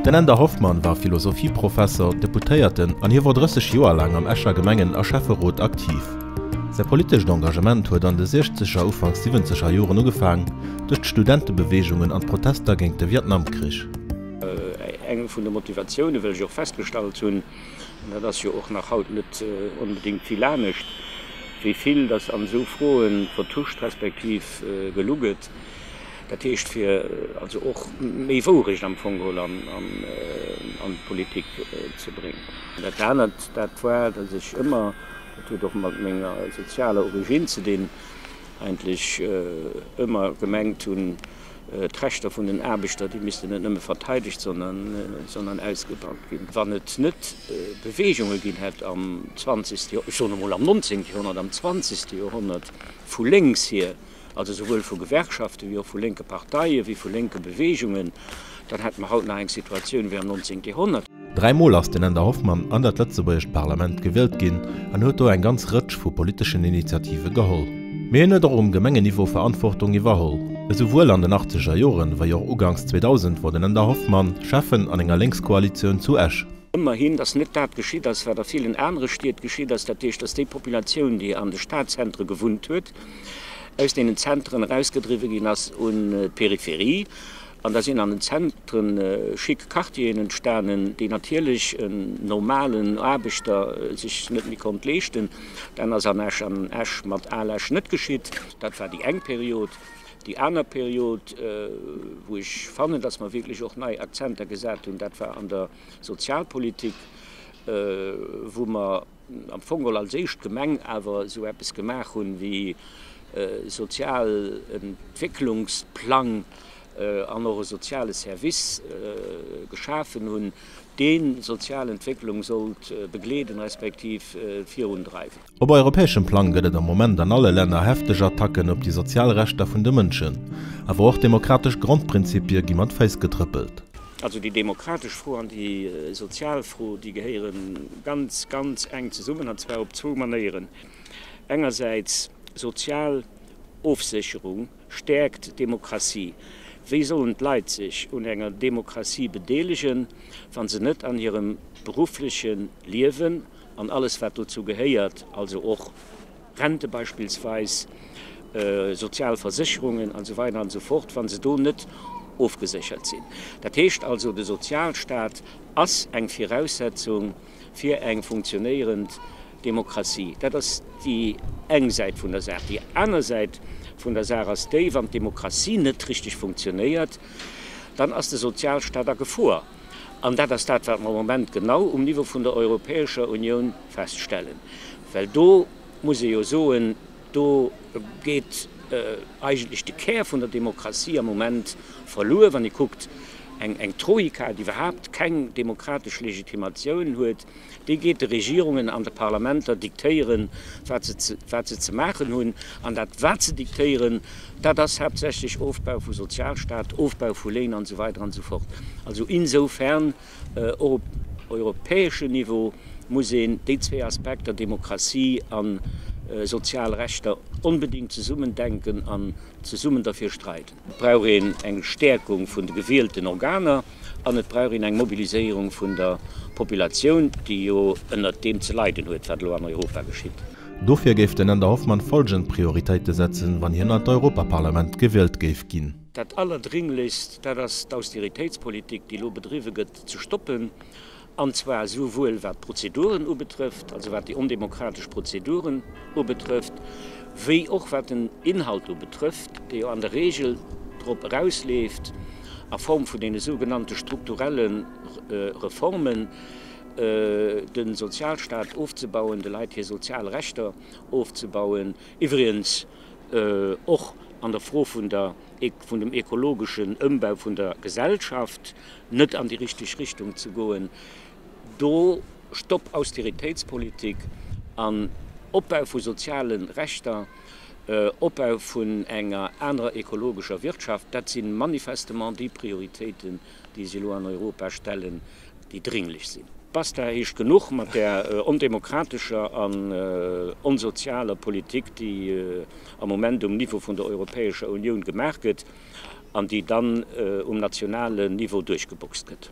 Den Änder Hoffmann war Philosophieprofesser, Deputéierten an hie wor 30 Joer laang am Escher Gemengen a Schäfferot aktiv. Säi politescht Engagement huet an de siechzeger, ufanks siwwenzeger Joren ugefaang, duerch d'Studentebeweegungen an d'Protester géint de Vietnamkrich. Eng vun de Motivatioune wéi ech och festgestallt hunn, An dat ass jo och nach haut net onbedéngt vill anescht, wéi vill datt an esou Froe vertuscht respektiv gelu gëtt. Dat heescht, fir also och méi Wourecht am Fong geholl an d'Politik ze bréngen. Dat anert, dat war, datt ech ëmmer, dat huet och mat menger sozialer Origine ze dinn, eigentlech ëmmer gemengt hunn, d'Rechter vun den Aarbechter, déi missten net nëmme verteidegt, sondern ausgebaut ginn. Wann et net Beweegunge ginn hätt am 20, ech soen emol am 19. Joerhonnert, am 20. Joerhonnert vu lénks hier, also souwuel vu Gewerkschaften, wéi och vu lénke Parteien, wéi vu lénke Beweegungen, dann hätte mer haut nach eng Situatioun wéi am 19. Joerhonnert. Dräi Mol ass den Änder Hoffmann an dat lëtzebuergescht Parlament gewielt ginn an huet do eng ganz Rëtsch vu politeschen Initiative geholl. Mee hien huet och um Gemengenniveau Verantwortung iwwerholl, esouwuel an den achtzeger Joren, wei och uganks 2000, wor den Änder Hoffmann Schäffen an enger Lénkskoalitioun zu Esch. Ëmmerhin ass net dat geschitt ass, wat a villen anere Stied geschitt ass, dat heescht, datt déi Populatioun, déi an de Stadzentre gewunnt huet, aus deenen Zenteren erausgedriwwe ginn ass un d'Peripherie. An da sinn an den Zentren schick Quartieren entstanen, déi natierlech en normalen Aarbechter sech net méi konnt leeschten. Dat ass an Esch an Esch mat Al Esch net geschitt. Dat war déi eng Period. Déi aner Period, wou ech fannen, dass mer wierklech och nei Akzenter gesat hunn, dat war an der Sozialpolitik, wou mer, am Fong all als éischt Gemeng awer esou eppes gemaach hunn wéi e Sozialentwécklungsplang an och e soziale Service geschafen hunn, dee Sozialentwécklung sollt begleeden, respektiv virundreiwen. Op europäeschem Plang gëtt et am Moment an alle Länner hefteg Attacken op déi sozial Rechter vun de Mënschen, awer och demokratesch Grondprinzipie gi mat Féiss getrëppelt. Also déi demokratesch Fro an déi sozial Fro, déi gehéiere ganz, ganz enk zesummen, an zwar op zwou Manéieren. Engersäits, sozial Ofsécherung stäerkt d'Demokratie. Wéi sollen d'Leit sech un enger Demokratie bedeelegen, wa se net an hirem beruffleche Liewen an alles, wat dozou gehéiert, also och, Rente beispillsweis, sozial Versécherungen an esou weider an esou fort, wa se do net ofgeséchert sinn. Dat heescht also, de Sozialstaat ass eng Viraussetzung fir eng funktionéierend Demokratie. Dat ass déi eng Säit vun der Saach. Déi aner Säit vun der Saach ass déi, wann d'Demokratie net richteg funktionéiert, dann ass de Sozialstaat a Gefor. An dat ass dat, wat mer am Moment genau um Niveau vun der Europäescher Unioun feststellen. Well do muss ee jo soen, do geet eigentlech de Kär vun der Demokratie am Moment verluer, wann ee kuckt, eng Troika, déi iwwerhaupt keng demokratesch Legitimatioun huet, déi geet de Regierungen an de Parlamenter diktéieren, wat se ze maachen hunn. An dat, wat se diktéieren, dat ass haaptsächlech Ofbau vum Sozialstaat, Ofbau vu Léin an esou weider an esou fort. Also insofern. Och op europäeschem Niveau muss een déi zwee Aspekter, Demokratie a sozial Rechter, onbedéngt zesummen denken an zesummen derfir streiden. Et brauch een eng Stäerkung vun de gewielten Organer an et brauch een eng Mobiliséierung vun der Populatioun, déi jo ënnert deem ze leiden huet, wat elo an Europa geschitt. Dofir géif den Änder Hoffmann folgend Prioritéite setzen, wann hien an d'Europaparlament gewielt géif ginn. Dat allerdringlichst, dat ass d'Austeritéitspolitik, déi elo bedriwwe gëtt, ze stoppen, an zwar esouwuel wat d'Prozeduren ubetrëfft, also wat déi ondemokratesch Prozeduren ubetrëfft, wéi och wat den Inhalt ubetrëfft, dee jo an der Regel drop erausleeft, a Form vun deene sougenannte strukturelle Reformen, de Sozialstaat ofzebauen, de Leit hir sozial Rechter ofzebauen, iwwregens och an der Fro vun der, vun dem ekologeschen Ëmbau vun der Gesellschaft net an déi richteg Richtung ze goen. Do Stopp Austeritéitspolitik an Opbau vu soziale Rechter, Opbau vun enger anerer ekologescher Wirtschaft, dat si manifestement déi Prioritéiten, déi si elo an Europa stellen, déi dringlech sinn. Basta heescht genuch mat där ondemokratescher an onsozialer Politik, déi am Moment um Niveau vun der Europäescher Unioun gemaach gëtt an déi dann um nationalen Niveau duerchgeboxt gëtt.